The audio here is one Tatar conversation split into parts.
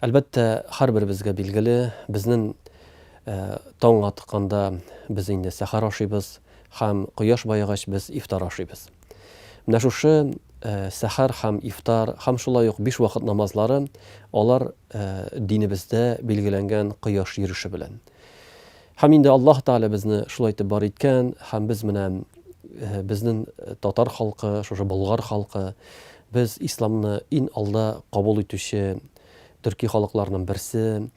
Әлбәттә, һәрберебезгә билгеле, безнен таң атканда без инде сәхәр ашыйбыз һәм кояш баегач без ифтар ашыйбыз. Менә шушы сәхәр һәм ифтар һәм шулай ук биш вакыт намазлары, алар динебездә билгеләнгән кояш йөреше белән. Һәм инде Аллаһ Тәгалә безне шулай итеп бар иткән, һәм без менә безнен татар халкы, шушы болгар халкы, без исламны ин алда кабул итүче төрки халыкларның берсе,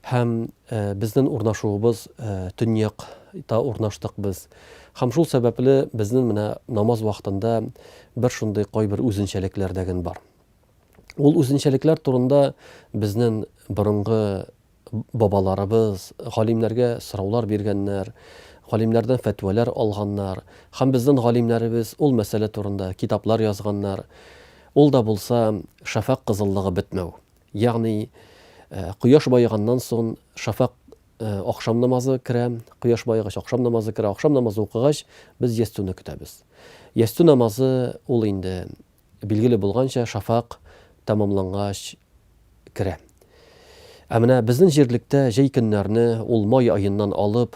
һәм безнен урнашуыбыз төньяк та урнаштык без. Һәм шул сәбәпле безнен менә намаз вакытында бер шундый кайбер үзенчәлекләр дәген бар. Ул үзенчәлекләр турында безнен борынгы Бабаларыбыз, галимнәргә сораулар биргәннәр, галимнәрдән фәтвәләр алганнар. Һәм безнен галимнәребез ул мәсьәлә турында китаплар язганнар. Ул да булса шәфәкъ кызыллыгы бетмәү. Ягъни кояш баеганнан сон шәфәкъ ахшам намазы керә, кояш баегач ахшам намазы керә, ахшам намазы укыгач без ястүне көтәбез. Ястү намазы ул инде Билгеле булганча, шафак тәмамлангач керә. Ә менә безнең җирлектә җәй көннәрне ул май аеннан алып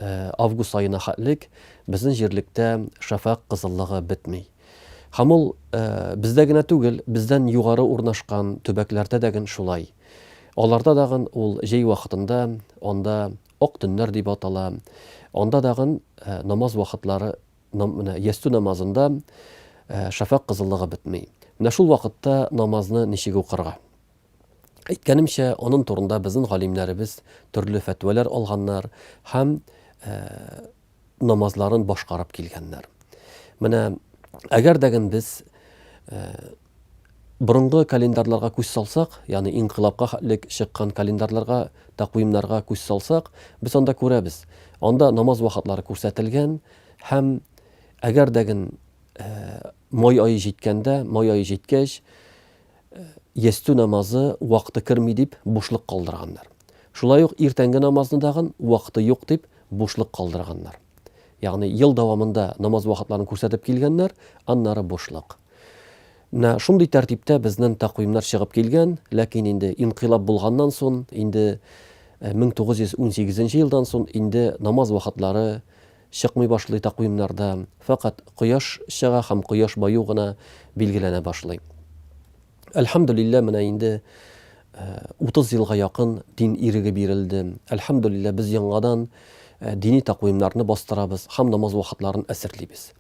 август аена хәтлек безнең җирлектә шафак кызыллыгы бетми. Һәм ул бездә генә түгел, бездән югары урнашкан төбәкләрдә дә ген шулай. Аларда да ген ул җәй вакытында анда ак төннәр дип атала, анда да ген намаз вакытлары Менә ястү намазында шәфәкъ кызыллыгы бетми. Менә шул вакытта намазны ничек укырга? Әйткәнемчә, анын турында безнең галимнәребез төрле фәтвәләр алганнар һәм намазларын башкарып килгәннәр. Менә әгәр дә без Борынгы календарьларга күз салсак, ягъни инкыйлабка хәтлек чыккан календарьларга, тәкъвимнәргә күз салсак, без анда күрәбез, анда намаз вакытлары күрсәтелгән һәм әгәр дә ген май ае җиткәндә, май ае җиткәч, ястү намазы вакыты керми дип бушлык калдырганнар. Шулай ук иртәнге намазны дагын вакыты юк дип бушлык калдырганнар. Ягъни ел дәвамында намаз вакытларын күрсәтеп килгәннәр, аннары бушлык. Менә шундый тәртиптә безнен тәкъвимнәр чыгып килгән, ләкин инде инкыйлаб булганнан сон, инде 1918 нче елдан сон инде намаз вакытлары чыкмый башлый тәкъвимнарда, фәкать кояш чыга һәм кояш баю гына билгеләнә башлый. Әлхәмдүлилләһ, менә инде 30 елга якын дин иреге бирелде. Әлхәмдүлилләһ, без яңадан дини тәкъвимнарны бастырабыз һәм намаз вакытларын әсерлибез.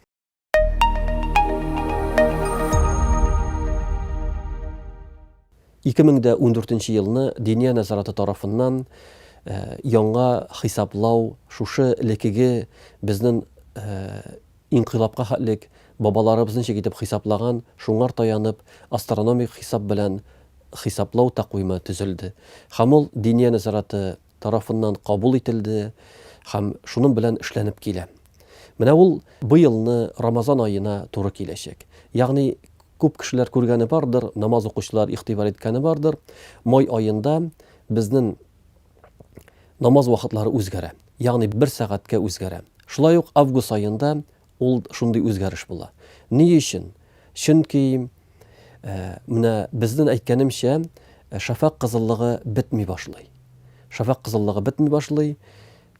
Ике мең дә ундүртенче елны Диния нәзараты тарафыннан э, яңа хисаплау шушы лекеге безнең э, инкыйлапка хәтлек бабаларыбыз ничек итеп хисаплаган, шуңар таянып, астрономик хисап белән хисаплау тәкъвиме төзелде. Һәм ул Диния нәзараты тарафыннан кабул ителде һәм шуның белән эшләнеп килә. Менә ул быелны Рамазан аена туры киләчәк. Ягъни күп кешеләр күргәне бардыр, намаз укучылар игътибар иткәне бардыр, май аенда безнең намаз вакытлары үзгәрә. Ягъни бер сәгатькә үзгәрә. Шулай ук август аенда Ул шундый үзгәреш була. Ни өчен? Чөнки, менә безнен әйткәнемчә, шәфәкъ кызыллыгы бетми башлый. Шәфәкъ кызыллыгы бетми башлый,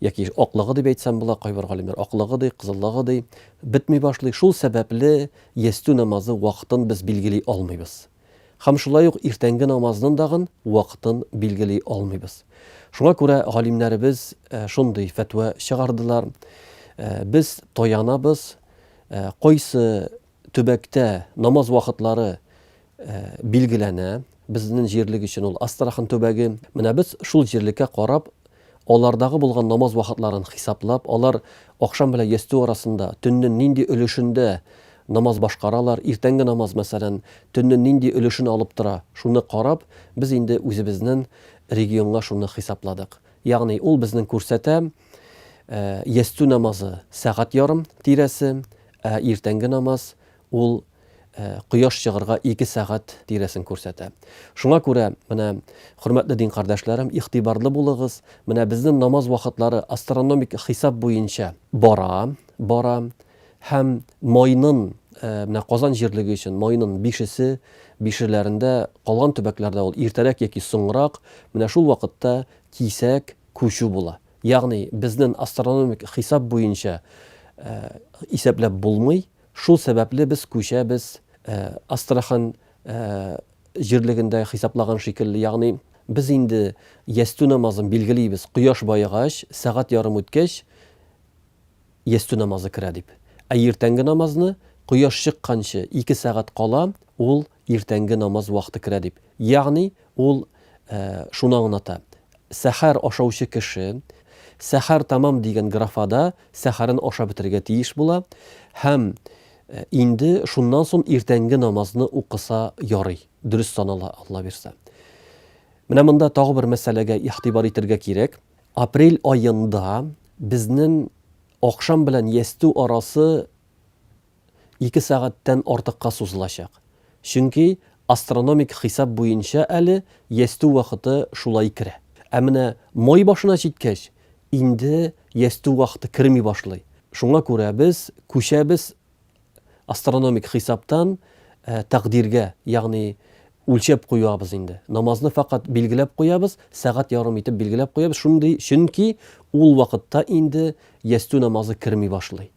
яки аклыгы дип әйтсәм була, кайбер галимнәр аклыгы ди, кызыллыгы ди, бетми башлый. Шул сәбәпле ястү намазы вакытын без билгели алмыйбыз. һәм шулай ук иртәнге намазнын дагын вакытын билгели алмыйбыз. Шуңа күрә галимнәребез шундый фәтва чыгардылар, без таянабыз, кайсы төбәктә намаз вакытлары билгеләнә, безнен җирлек өчен ул Астрахань төбәге, менә без шул җирлеккә карап Алардагы булган намаз вакытларын хисаплап, алар ахшам белән ястү арасында, төннең нинди өлешендә намаз башкаралар, иртәнге намаз, мәсәлән, төннең нинди өлешен алып тора, шуны карап, без инде үзебезнең регионга шуны хисапладык. Ягъни ул безнең күрсәтә, ястү намазы, сәгать ярым тирәсе, ә иртәнге намаз, Ул кояш чыгарга ике сәгать тирәсен күрсәтә. Шуңа күрә, менә, хөрмәтле дин кардәшләрем, игътибарлы булыгыз, менә безнең намаз вакытлары астрономик хисап буенча бара, бара һәм майнын, менә Казан җирлеге өчен майнын бишесе, бишеләрендә, калган төбәкләрдә ул иртәрәк яки соңрак, менә шул вакытта кисәк күчү була. Ягъни безнен астрономик хисап буенча исәпләп булмый, Шул сәбәпле без күчәбез, Астрахань җирлегендә хисаплаган шикелле, ягъни без инде ястү намазын билгелибез, кояш баегач, сәгать ярым үткәч ястү намазы керә дип. Ә иртәнге намазны кояш чыкканчы ике сәгать кала, ул Иртәнге намаз вакыты керә дип. Ягъни ул шуны аңлата, сәхәр ашаучы кеше сәхәр тәмам дигән графада сәхәрен ашап бетерергә тиеш була һәм инде шуннан соң иртәнге намазны укыса ярый, дөрес санала, Алла бирсә. Менә монда тагы бер мәсьәләгә игътибар итергә кирәк. Апрель аенда безнең ахшам белән ястү арасы ике сәгатьтән артыкка сузылачак, чөнки астрономик хисап буенча әле ястү вакыты шулай керә. Ә менә май башына җиткәч, инде ястү вакыты керми башлый. Шуңа күрә без күчәбез астрономик хисаптан тәкъдиргә, ягъни үлчәп куябыз инде. Намазны фәкать билгеләп куябыз, сәгать ярым итеп билгеләп куябыз, шундый, чөнки ул вакытта инде ястү намазы керми башлый.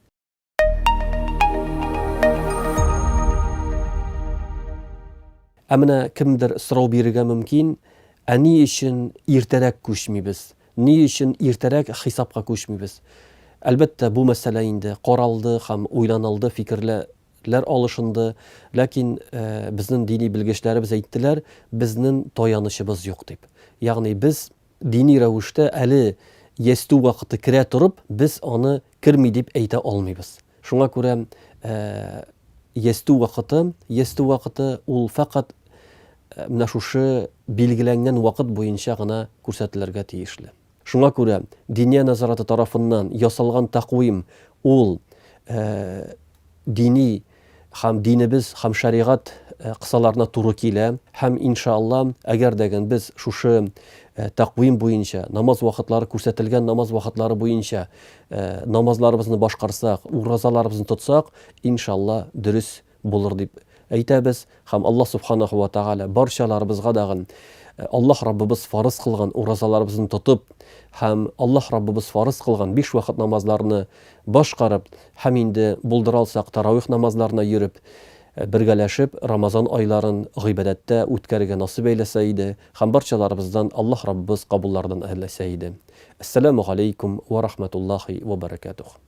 Ә менә кемдер сорау бирергә мөмкин, ә ни өчен иртәрәк күчмибез? Ни өчен иртәрәк хисапка күчмибез? Әлбәттә, бу мәсьәлә инде каралды һәм уйланылды, фикерләр алышынды, ләкин безнең дини белгечләребез әйттеләр, безнең таянычыбыз юк дип. Ягъни без Дини рәвештә әле ястү вакыты керә торып, без аны керми дип әйтә алмыйбыз. Шуңа күрә ястү вакыты, ястү вакыты ул фәкать менә шушы билгеләнгән вакыт буенча гына күрсәтелергә тиешле. Шуңа күрә Диния нәзараты тарафыннан ясалган тәкъвим ул дини Һәм динебез һәм шәригать кысаларына туры килә. Һәм, иншаАлла, әгәр дә гэн без шушы тәкъвим буенча, намаз вакытлары, күрсәтелгән намаз вакытлары буенча намазларыбызны башкарсак, уразаларыбызны тотсак, иншаАлла, дөрес булыр дип әйтәбез. Һәм Аллаһ Субханаһу ва Тәгалә барчаларыбызга дагын Аллаһ Раббыбыз фарыз кылган уразаларыбызны тотып һәм Аллаһ Раббыбыз фарыз кылган биш вакыт намазларны башкарып һәм инде булдыра алсак тарауих намазларына йөреп, бергәләшеп Рамазан айларын гыйбадәттә үткәрергә насыйп әйләсә иде һәм барчаларыбыздан Аллаһ Раббыбыз кабуллардан әрләсә иде. Әссәламү галәйкүм вә рахмәтуллаһи вә бәрәкәтүһ.